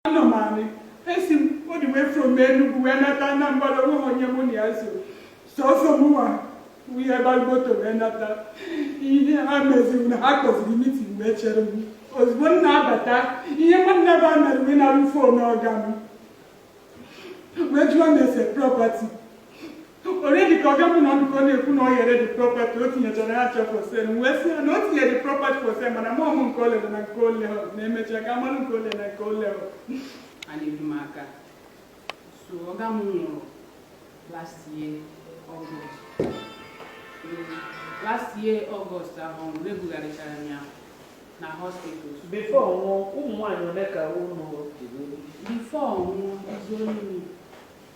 anọ m anị esi m all the way from Enugu wee nata Anambra onweghị onye mụ na ya so sọsọ mụnwa wee baa moto wee nata ihe ha meziri na ha kpọziri mitin wee chere m ozugbo m na-abata ihe nwanne ba mere wee narụ m fon ọga m wee jụwa m ese prọpati Already ka ọga m nọ ndụ ka ọ na-ekwu na o tinyere the property o tinyechara ha ncha for sale wee sị ya na o tinyere the property for sale mana amahụ m nke o lere na nke o lehụ na emechaa ka a malụ nke o lere na nke o lehụ a na-edu m aka so ọga m nwụrụ last year August last year August ahụ ọ nwụrụ ebugharịchara m ya na hospital bifo ọ nwụọ ụmụ nwaanyị ole ka unu dịrị before ọnwụ izu onye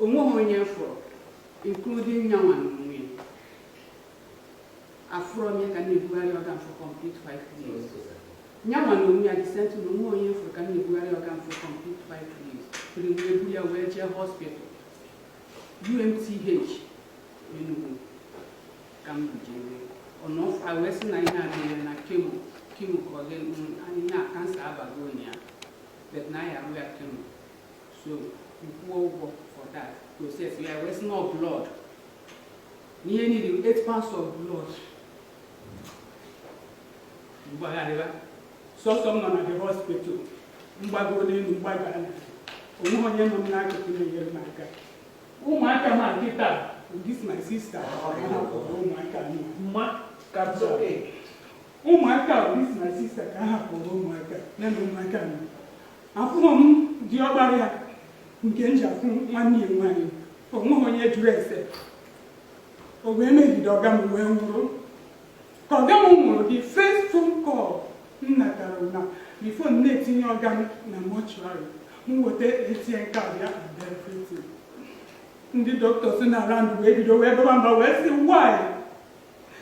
O nweghị onye fụrụ including nyanwa na onwe ya. Afụrọ m ya ka m na-ebugharị ọga m for complete five years. Nyanwa na onwe ya the same thing, onweghị onye fụrụ ka m na-ebugharị ọga m for complete five years. Till m ebu ya wee jee hospital UNTH Enugu ka m bujere ọnụ ọfụ a wee sị na ihe a mere na kemo kemo ka ọ ga-enwu anyị na kansa abagonụ ya ahụ but na anyị arụ ya kemo so m wee kwụọ ụgwọ for that process ha wee sị na ọ blood n'ihe niile 8 pints of blood m gbagharịba sọsọ m nọ na the hospital mgbago n'elu mgbago ala onweghị onye nọ m n'akụkụ na-enyere m aka ụmụaka m a kịta this my sister ụmụaka m a ka Ụmụaka m this my sista ka m hapụrụ ụmụaka ya na ụmụaka m afụrọ m ndị ọbara ya nke m ji afụ nwanne ya nwaanyị onweghị onye jụrụ ese o wee megide ọga m wee nwụrụ ka ọga m nwụrụ the first phone call m natara na bifo m na-etinye ọga m na mọchụarị m weta ATM card and everything ndị doctors nọ around wee bido wee baba mba wee sị why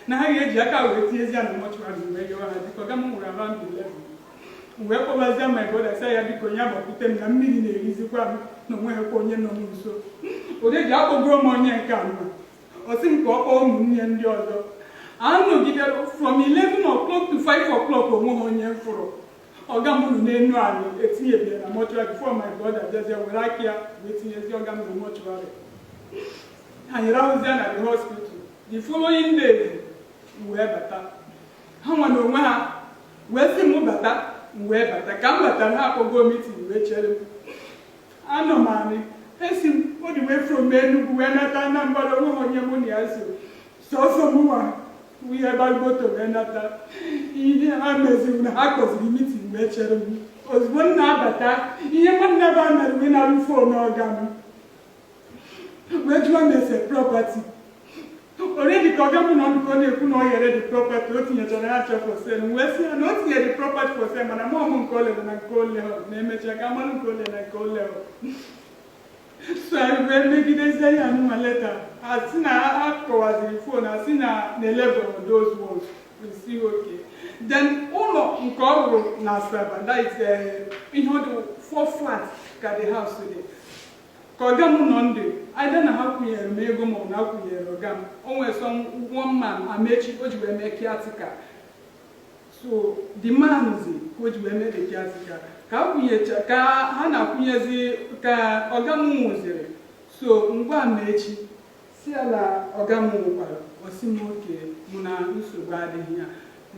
na ha ga-eji aka ha wee tinyezie ya na mọchụarị m wee yọọ ha biko ọga m nwụrụ around 11 m wee kpọbazie my brother sị ya biko nya gbapụte m na mmiri na-erizikwa m na onweghịkwa onye nọ m nso onye ji akpọgoro m onye nke a mma ọ sị m ka ọ kpọọ ụmụnne ndị ọzọ anọgidere m from 11 o'clock to 5 o'clock onweghị onye m fụrụ ọga m nọ n'elu ala etinyebero ya na mọchụarị bifo my brother bịazie were aka ya wee tinyezie ọga m na mọchụarị anyị rahụzie na the hospital the following day m wee bata ha nwa na onwe ha wee sị m bata m wee bata ka m batara ha akpọgo mitin wee chere m anọ m anị esi m all the way from Enugu wee nata Anambra onweghị onye mụ na ya so sọsọ mụnwa wee gbagote wee nata ihe ha meziri na ha kpọziri meeting wee chere m ozugbo m na-abata ihe nwanne ya mere wee nara phone ọga m wee jụọ m ese property already ka ọga m nọ ndụ ka ọ na-ekwu na ọ yere the property o tinyechara ya cha for sale m wee sị ya na o tinyere the property for sale mana mụ amaghị nke ole na nke ole na emecha ka m mara nke ole na nke ole so ha wee megidezie ya nwa later ha si na ha kọwaziri phone ha si na na-elebọ those ones we see okay then ụlọ nke ọ rụrụ na Asaba that is eh, ihe ọ dị four flat ka the house dị ka ọga m nọ ndụ either na ha kwụnyere m ego m or na ha kwụnyere ọga m o nwere sọ one man Amechi o ji wee mee caretaker so the man zi ka o ji wee mee the caretaker ka a kwụnyecha ka ha na-akwụnyezi ka ọga m nwụziri so ngwa Amechi sị ya na ọga m nwụkwara ọ sị m okay mụ na nsogbu adịghị ya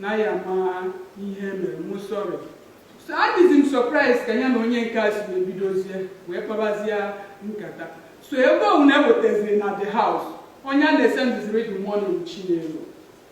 na ya ma ihe mere mụ sorry so adịzi m surprise ka ya na onye nke a si wee bidozie wee kpabazie nkata so ebe ọwụna e wetaziri na the house onye a na-esendiziri the money Chinelo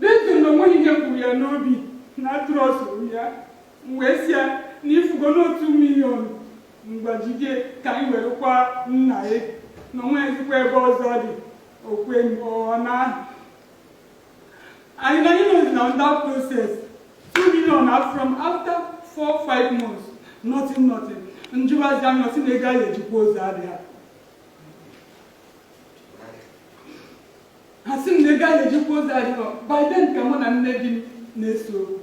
Detuo na onweghị ihe gburu ya n'obi na a trustụrụ ya. M wee sị ya na ị fụgo na two million m gbaziri ka anyị were kwa nna ya na onweghịzikwa ebe ọzọ ọ dị okwe ọ na anyị na anyị nọzi na that process two million na from after four five months nothing nothing m jụwazi ya ọ sị na ego a na-eji akwa ozu adịghị ha sị m na ego a na-eji akwa ozu adịrọ by then ka mụ na nne di m na-ese okwu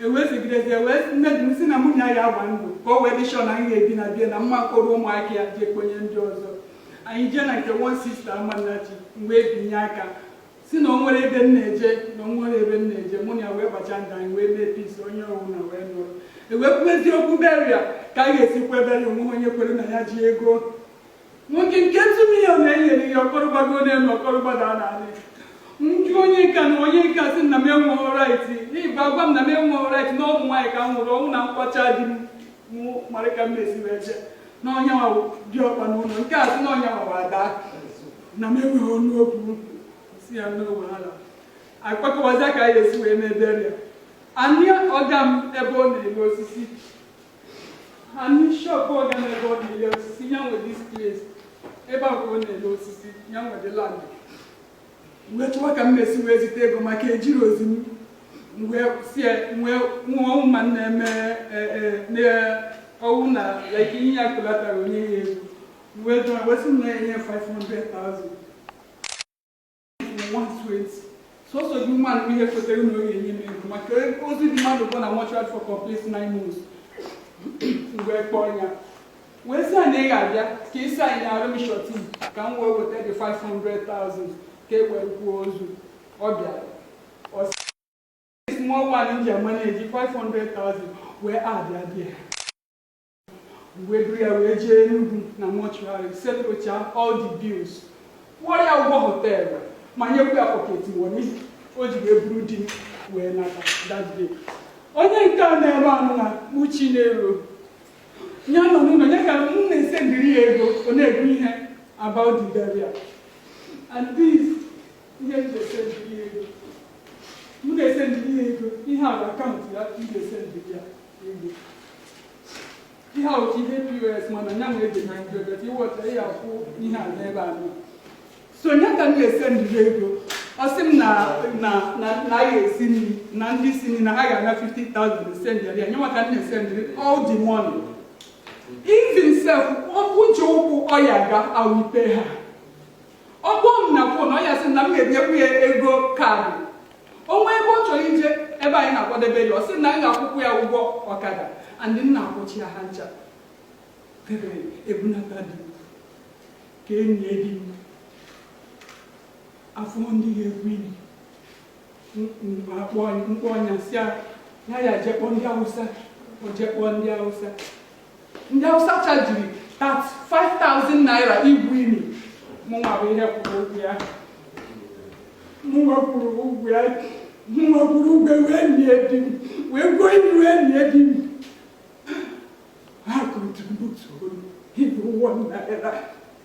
e wee segidezi ewe nne di m si na mụ na ya agba ndụ ka o wee dị sure na anyị ga-ebi na be ya na m ma kpọrọ ụmụaka ya jee kpọnye ndị ọzọ anyị jee na nke one sister Amannachi m wee binye aka sị na o nwerọ ebe m na-eje na o nwerọ ebe m na-eje mụ na ya wee gbacha ndụ anyị wee mee peace onye ọwụna wee nọrọ e wee kwuwezi okwu burial ka a ga-esi kwa burial o nweghị onye kwere na ya ji ego nwoke nke two million e nyere ya ọ kọrọ gbago n'elu ọ kọrọ gbada n'ala m jụ onye nka na onye nka si na m enweghị right ịgba agwa m na m enweghị right na ọ bụ nwaanyị ka m wụ ọ wụ na m kwacha di m mara ka m na-esi wee jee na ọ ya wụ diọkpa n'ụlọ nke a sị na ọ yanwa wụ ada na m enweghị ọnụ okwu si ya n'ogbe ha akpakọwazi ka anyị esi wee mee burial anị ọga m ebe ọ na-ele osisi Anị shop ọga m ebe ọ na-ele osisi ya nwe this place ebe a ka ọ na-ele osisi ya nwe the land wee chọwa ka m mesi wee zite ego maka e ji eli ozu m wee sie wee nwa ọnwụ ma nna eme ọ wụ na like ihe ya kolatara onye ya ego wee jụọ wee sị m na enye 500,000 sọsọ otu mmadụ bụ ihe kwetara na ọ ya-enye m ego maka ozu di m anọgo na mortuary for complete nine months mgbe m kpọọ ya wee sị na ị ga-abịa ka ị sainara m surety ka m wee weta the 500,000 ka e were kwuo ozu ọ bịara small one ji amaneji 500,000 wee abịa bịa wee buru ya wee jee Enugu na mọchụarị setụrụcha all the bills kwụọ ya ụgwọ họteelụ ma nyekwa ya pọket moni o ji wee buru di m wee nata that day onye nke a na-ere anụ na uchi na-ero ya nọ n'ụlọ ya ka m na-esendiri ya ego ọ na-ebu ihe about the burial and this ihe m na-esendiri ya ego m na-esendiri ya ego ihe a bụ akaụntụ ya m na-esendiri ya ihe a otu ihe POS mana nya nwee dị na nke bet iweta ya akwụ ihe a n'ebe a nọ so nya ka m na-esendiri ego ọ sị m na na na na a ga-esi nri na ndị isi nri na ha ga-ana 50,000 esendiri ya nya nwa ka m na-esendiri all the money even self ụjọ ụkwụ ọ ya ga awupe ha ọ kpọọ m na fon ọ ya-asị na m ga-enyekwu ya ego ọkada o nwee ebe ọ chọrọ ije ebe anyị na-akwadebe ya ọ sị na m ga-akwụkwu ya ụgwọ ọkada and m na-akwụchi ya ha ncha ebe e bunata di ka e nie di m afụ ndị ga-egwu ini m kpọọ nya sị ya ya jee kpọọ ndị Awụsa o jee kpọọ ndị Awụsa ndị Hausa chajiri 35,000 naira igwu ini mụnwa bụ ihe kwụrụ ụgwọ ya mụnwa kwụrụ ụgwọ ya mụnwa kwụrụ ụgwọ wee nie di m wee gwuo ini wee nie di m ha akọntributurọ even one naira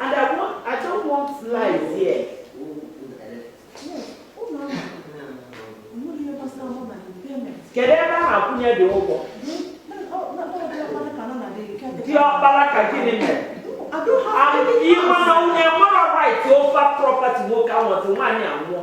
And I want, I don't want lies here. Kedu ebe a na-akwụnye the ụgwọ? Diọkpara ka gịnị mere? Ị ma na onye nwere right over property nwoke anwụtụ nwaanyị anwụọ.